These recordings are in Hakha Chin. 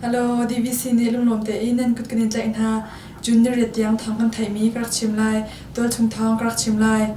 Hello, DVC nih lungnuam tein nan kut kan in tlaih hna. June ni riat tiang thawng kan theihmi ka rak chim lai. Tual chung thawng ka rak chim lai.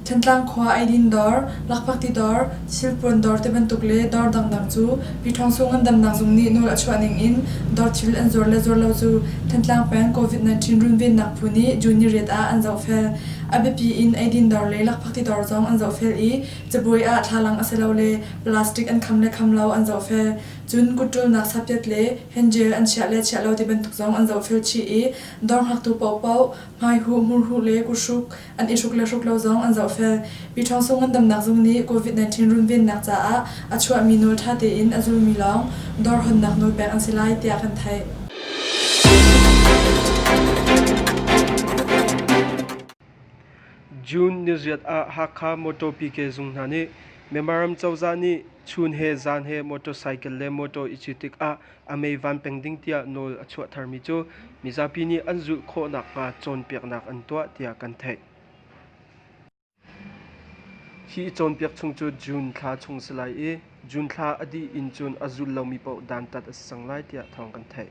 Thantlang khua eidin dawr, lakphakti dawr, silpuan dawr ti bantuk le dawr dangdang cu Pyithawng Sung an damnak zung nih nawl a chuah ning in dawr thil an zuar le zuar lo cu Thantlang peng COVID-19 runvennak phu nih June niriat ah an zohfel. A biapi in eidin dawr le lakphakti dawr zong an zohfel i cabuai ah thlalang asilole plastic an kham le kham lo an zohfel. Cun kut ṭulnak sapiat le henjel an chiah le chiah lo ti bantuk zong an zohfel chih i dawr ngaktu paohpaoh, hmaihuh, murhuh le kuhruk, an i hruk le hruk lo zong an zohfel. Mi ṭhawngso ngandamnak zung nih COVID-19 runvennak caah a chuahmi nawl ṭha tein a zulmi lawng dawrhawnnak nawl pek an si lai tiah kan theih. June niziat ah Hakha Motor PK zung hna nih Myanmar ram cozah nih chun he zan he motorcycle le motor i cit tikah a meivan peng ding tiah nawl a chuahtermi cu mizapi nih an zulh khawh nakhnga cawnpiaknak an tuah tiah kan theih. Hi cawnpiak chung cu June thla chung si lai i June thla a dih in cun a zul lomi paoh dantat a si cang lai tiah thawng kan theih.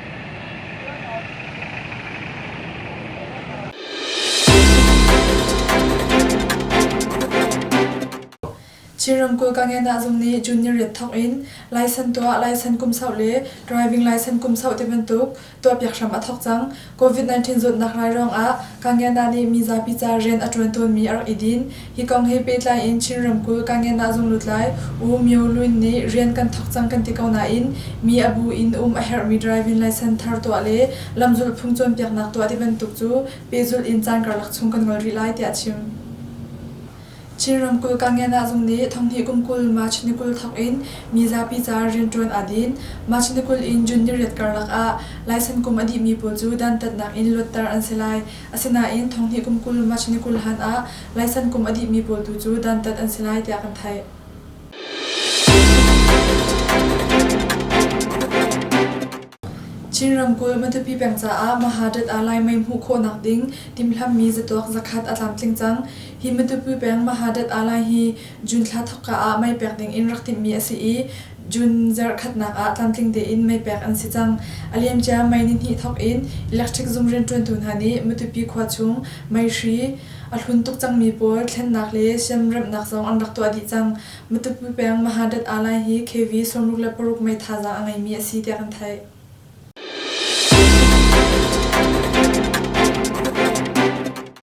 Chin ramkulh Gangedah zung nih June ni riat thawk in license tuah license kum sau le driving license kum sau ti bantuk tuahpiak hram a thawk cang. COVID-19 zawtnak rai ruangah Gangedah nih mizapi ca rian a ṭuan tawnmi a rak i din. Hi kong he pehtlai in Chin ramkulh Kangen ah zunglutlai U Myo Lwin nih rian kan thawk cang kan ti ko nain mi a bu in um a herhmi driving licence thar tuah le lamzulh phung cawnpiaknak tuah tibantuk cu pehzulh in caan karlak chung kan ngol rih lai tiah a chim. Chin ramkulh Kangen ah zung nih thonghnih kum kul March ni kul thawk in mi zapi caah rianṭuan aa din. March ni kul in June ni riat karlak ah licence kum a dihmi pawl cu dantatnak in luatter an si lai. Asinain Thonghnih kum kul March ni kul hlan ah Laisan kum a dihmi pawl tu cu dantat an si lai tiah kan theih. Chin ramkulh Matupi peng caah Mahadat ah Lai mei hmuh khawhnak ding timhlamhmi zatuak zakhat a tlamtling cang. Hi Matupi peng Mahadat ah Lai hi June thla thawkka ah mei pek ding in rak timhmi a si i, June zarhkhatnak ah tlamtling tein meipek an si cang. A liamcia May nihnih thawk in electric zum rianṭuantu hna nih Matupi khua chung mei hri a hlun tuk cangmi pawl thlennak le siamremhnak zong an rak tuah dih cang. Matupi peng Mahadat-Alai hi KV sawmruk le paruk mei thazaang a ngeimi a si tiah kan theih.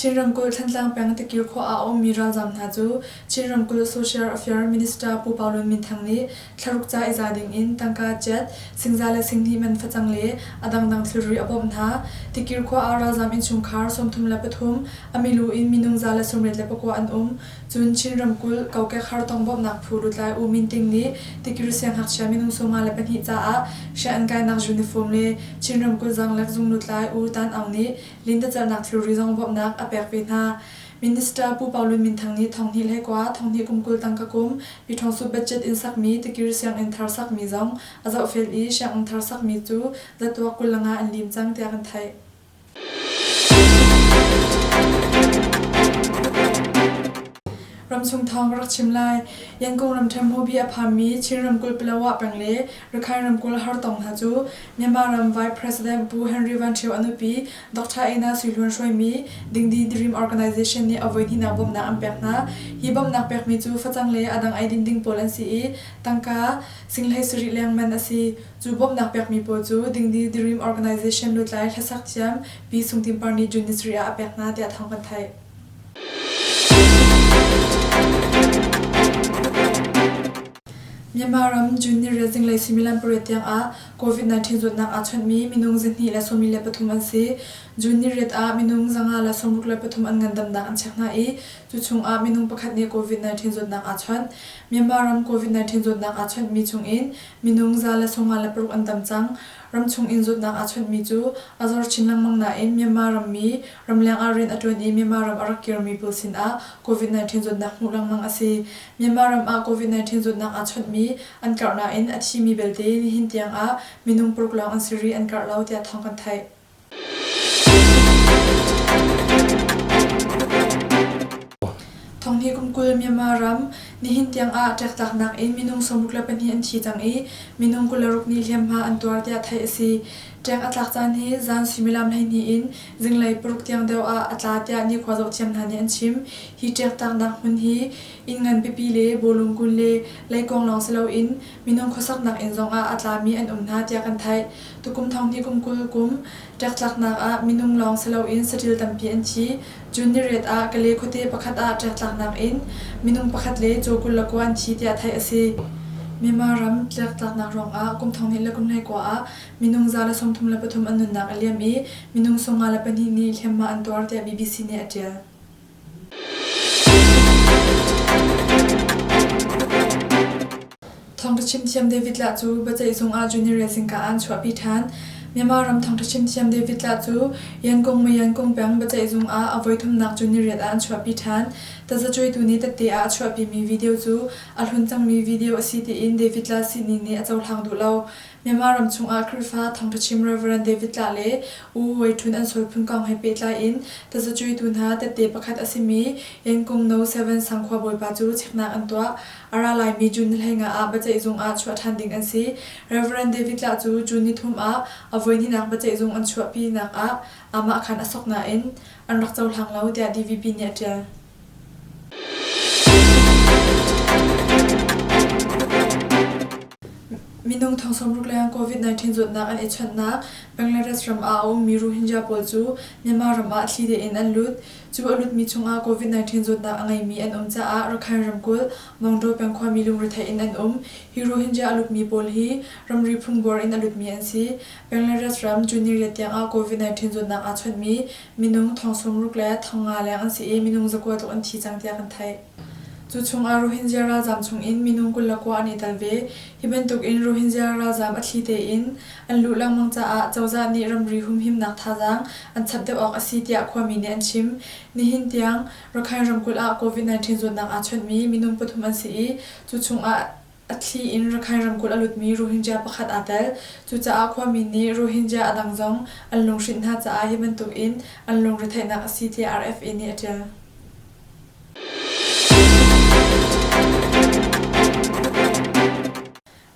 Chin ramkulh Thantlang peng Takir khua ah a ummi ralzaam hna cu Chin ramkulh Social Affairs Minister Pu Pau Lun Min Thang nih thlaruk ca i za dingin tangka ciat, singza le singhnih man facang le a dangdang thilri a bawmh hna. Takir khua ah ralzaam innchungkhar sawmthum le pathum, a milu in minung za le sawmriat le pakua an um. Cun Chin ramkulh kokek hartong bawmhnak phu lutlai U Min Ting nih tikiri sianghngakchia minung sawmnga le pahnih caah hriah an kainak uniform le Chin ramkulh zaanglek zung lutlai U Tan Aung nih lintacernak thilri zong bawmhnak a pek ve hna. Minister Pu Pau Lun Min Thang nih Thonghnih hlei kua, Thonghnih kum kul tangka kum, Pyithawngsu budget in sakmi tikiri sianginn thar sakmi zong a zohfel i sianginn thar sakmi cu zatuak kul langa an lim cang tiah kan theih. Ramchung thawng ka rak chim lai. Yangon ramṭhen hmubi a phanmi Chin ramkulh Palawa peng le Rakhine ramkulh Hartong hna cu Myanmar ram Vice President Pu Henry Van Ṭhio a nupi Dr. Ina Sui Hlun hruaimi Dingdi Dream Organisation nih avoi hnihnak bawmhnak an pek hna. Hi bawmhnak pekmi cu facang le a dang eidin ding pawl an si i, tangka, Singhlei sarih lengman a si. Cu bawmhnak pekmi pawl cu Dingdi Dirim Organization lutlai hlasak thiam Pi Sung Tin Par nih June ni sarih ah a pek hna, tiah thawng kan theih. Myanmar ram June nirel zinglei suimilam pariat tiangah COVID-19 zawtnak aa chawnhmi minung zihnih le sawmi le pathum an si. June niriat ah minung zanga le sawmruk le pathum an ngandamnak an check hna i cu chungah minung pakhat nih COVID-19 zawtnak aa chawnh. Myanmar ram COVID-19 zawtnak aa chawnhmi chungin Minung za le sawma le paruk an tam cang. Ramchung in zawtnak aa chawnhmi cu a zor chin lengmang nain Myanmar rammi ramleng ah rian a ṭuan i Myanmar ram a rak kirmi pawl sinah Covid-19 zawtnak hmuh lengmang a si. Myanmar ram ah Covid-19 zawtnak aa chawnhmi an karh nain a thimi belte nihin tiang ah minung paruk lawng an si rih an karh lo tiah thawng kan theih. Thawnghi kum kul Myanmar ram nihin tiang ah ṭektlaknak in minung sawmruk le pahnih an thi cang i minung kul le ruk nih hliamhma an tuar tiah theih a si. Ṭeng a tlak caan hi zan suimilam hleihnih in zinglei paruk tiang deuh ah a tla tiah nikhua zohthiam hna nih an chim. Hi ṭektlaknak hmun hi inn ngan pipi le bawlung kun le leikuang lawng si loin minung khuasaknak inn zongah a tlami an um hna tiah kan theih. Tukum thonghni kum kul kum ṭektlaknak ah minung lawng si loin saṭil tampi an thi. June ni ret ah Kale khuate pakhat ah ṭektlaknak in minung pakhat le caw kul le kua an thi tiah theih a si. Myanmar ram tlektlaknak ruangah kum thonghnih le kum hleikua ah minung za le sawmthum le pathum an nunnak a liam i minung sawm nga le pahnih nih hliamhma an tuar tiah BBC nih a ṭial. Thawngṭha chimthiam David Lah cu biaceihzung ah junior singka aan chuahpi ṭhan. Myanmar ram thawngṭha chimthiam David Lah cu Yankung Maw Yankung peng biaceihzung ah a voithumnak juniorate ah an chuahpi ṭhan. Tazacuaitu nih tette ah a chuahpimi video cu a hlun cangmi video a si tiin David Lah sining nih a cohlang duh lo. Myanmar ram chungah Khrihfa thawngṭhachim Rev. David Tlah le U Wei Ṭhun an sual phun kong he pehtlai in tazacuitu hna tette pakhat a simi Yankum No. Seven sang khua bawipa cu cheknak an tuah. A ra laimi June ni hleinga ah biaceih zung ah chuah ṭhan ding an si. Rev. David Tlah cu June ni thum ah a voihnihnak biaceih zung an chuahpinak ah aamah khan a sok nain an rak cohlang lo, tiah DVP nih a ṭial. Minung thong sawmruk lengah COVID-19 zawtnak an i chawnhnak Bangladesh ram ah a ummi Rohingya pawl cu Myanmar ram ah thli tein an lut. Cu a lutmi chungah COVID-19 zawtnak a ngeimi an um caah Rakhine ramkulh Mongdo peng khuami lungrethei in an um. Hi Rohingya a lutmi pawl hi ramri phungbuar in a lutmi an si. Bangladesh ram June ni riat tiangah COVID-19 zawtnak aa chawnhmi Minung thong sawmruk le thong nga leng an si i minung zakua tluk an thi cang tiah kan theih. Cu chungah Rohingya ralzaam chungin minung kul le kua an i tel ve. Hi bantukin Rohingya ralzaam a thli tein an luh lengmang caah cozah nih ramri humhimnak thazaang an chap deuh awk a si tiah khuami nih an chim. Nihin tiang Rakhine ramkulh ah COVID-19 zawtnak aa chawnhmi minung pathum an si i cu chungah A thli in Rakhine ramkulh a lutmi Rohingya pakhat aa tel. Cucaah khuami nih Rohingya a dang zong an lunghrinh hna caah hi bantukin an lungretheihnak a si tiah RFA nih a ṭial.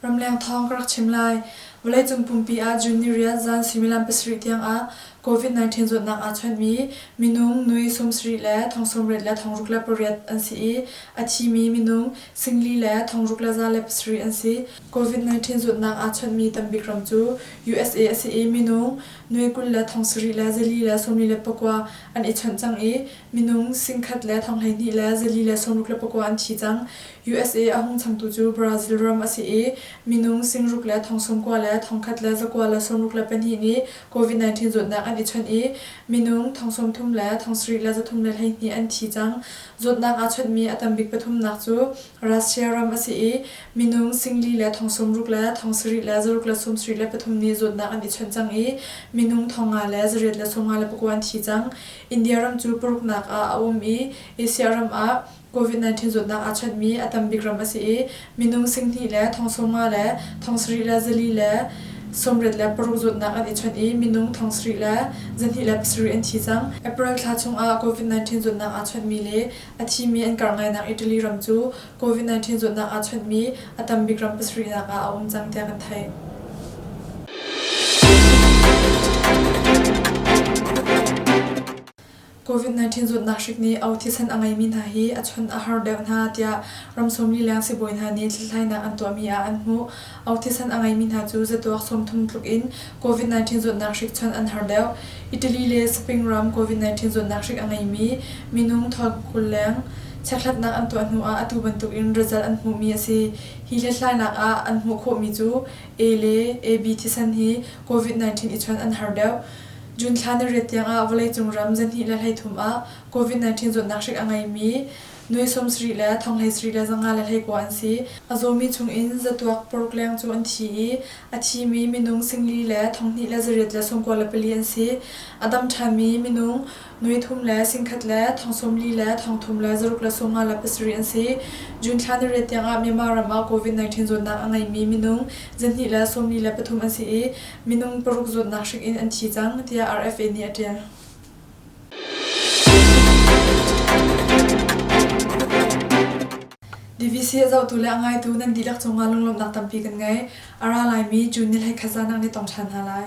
Ramleng thawng ka rak chim lai. Vawleicung pumpi ah June ni rial zan suimilam pasarih tiangah Covid-19 zawtnak aa chawnhmi minung nui sawmsarih le thong sawmrit le thong ruk le pariat an si i, a thimi minung singli le thong ruk le za le pasarih an si. Covid-19 zawtnak aa chawnhmi tambik ram cu usa a si i, minung nui kul le thong sarih le zali le sawmli le pakua an i chawnh cang i, minung singkhat le thong hleihnih le zali le sawmruk le pakua an thi cang. USA a hung changtu cu Brazil ram a si i, minung singruk le thong sawmkua le thong khat le zakua le sawmruk le pahnih nih Covid-19 zawtnak an i chawnh i minung thong sawmthum le thong sarih le zathum le hleihnih an thi cang. Zawtnak aa chawnhmi a tambik pathumnak cu Russia ram a si i minung singli le thong sawmruk le thong sarih le zaruk le sawmsarih le pathum nih zawtnak an i chawnh cang i minung thong nga le zariat le sawm nga le pakua an thi cang. India ram cu paruknak ah a um i Asia ram ah Covid-19 zawtnak aa chanhmi a tam bik ram a si i minung singhnih le thong sawmnga le thong sarih le zali le sawmriat le paruk zawtnak an i chawnh i minung thong sarih le zahnih le pasarih an thi cang. April thla chungah Covid-19 zawtnak aa chawnhmi le a thimi an kar ngainak Italy ram cu Covid-19 zawtnak aa chawnhmi a tam bik ram pasarihnak ah a um cang tiah kan theih. Covid-19 zawtnak hrik nih a thisen a ngeimi hna hi a chun a har deuh hna tiah ram sawmlileng sibawi hna nih hlathlainak an tuahmi ah an hmuh. A thisen a ngeimi hna cu zatuak sawmthum tluk in Covid-19 zawtnak hrik chun an har deuh. Italy le Spain ram Covid-19 zawtnak hrik a ngeimi minung thawk kul leng chekhlatnak an tuah hnu ah atu bantuk in result an hmuhmi a si. Hi hlathlainak ah an hmuh khawhmi cu A le AB thisen hi Covid-19 i chun an har deuh. June thla na riat tiangah vawleicung ram zarhhnih le hleithum ah COVID-19 zawtnak hrik a ngeimi nui sawmsarih le thonghlei sarih le zanga le hleikua an si. A zawmi chungin zatuak pawrkleng cu an thi i a thimi minung singli le thonghnih le zariat le sawmkua le pali an si. A dam ṭhanmi minung Nui thum le singkhat le thong sawm li le thong thum le zaruk le sawmngala pasarih an si. June thla ni re tiang ah Myanmar ram ah COVID-19 zawtnak a ngeimi minung zarhhnih le sawmli le pathum an si i minung paruk zawtnak hrik in an thi cang, tiah RFA nih a ṭial. DVC a zohtu le a ngaitu nan dihlak cungah lunglawmhnak tampi kan ngei. A ra laimi June ni hlei khaza nak nih tong ṭhan hna lai.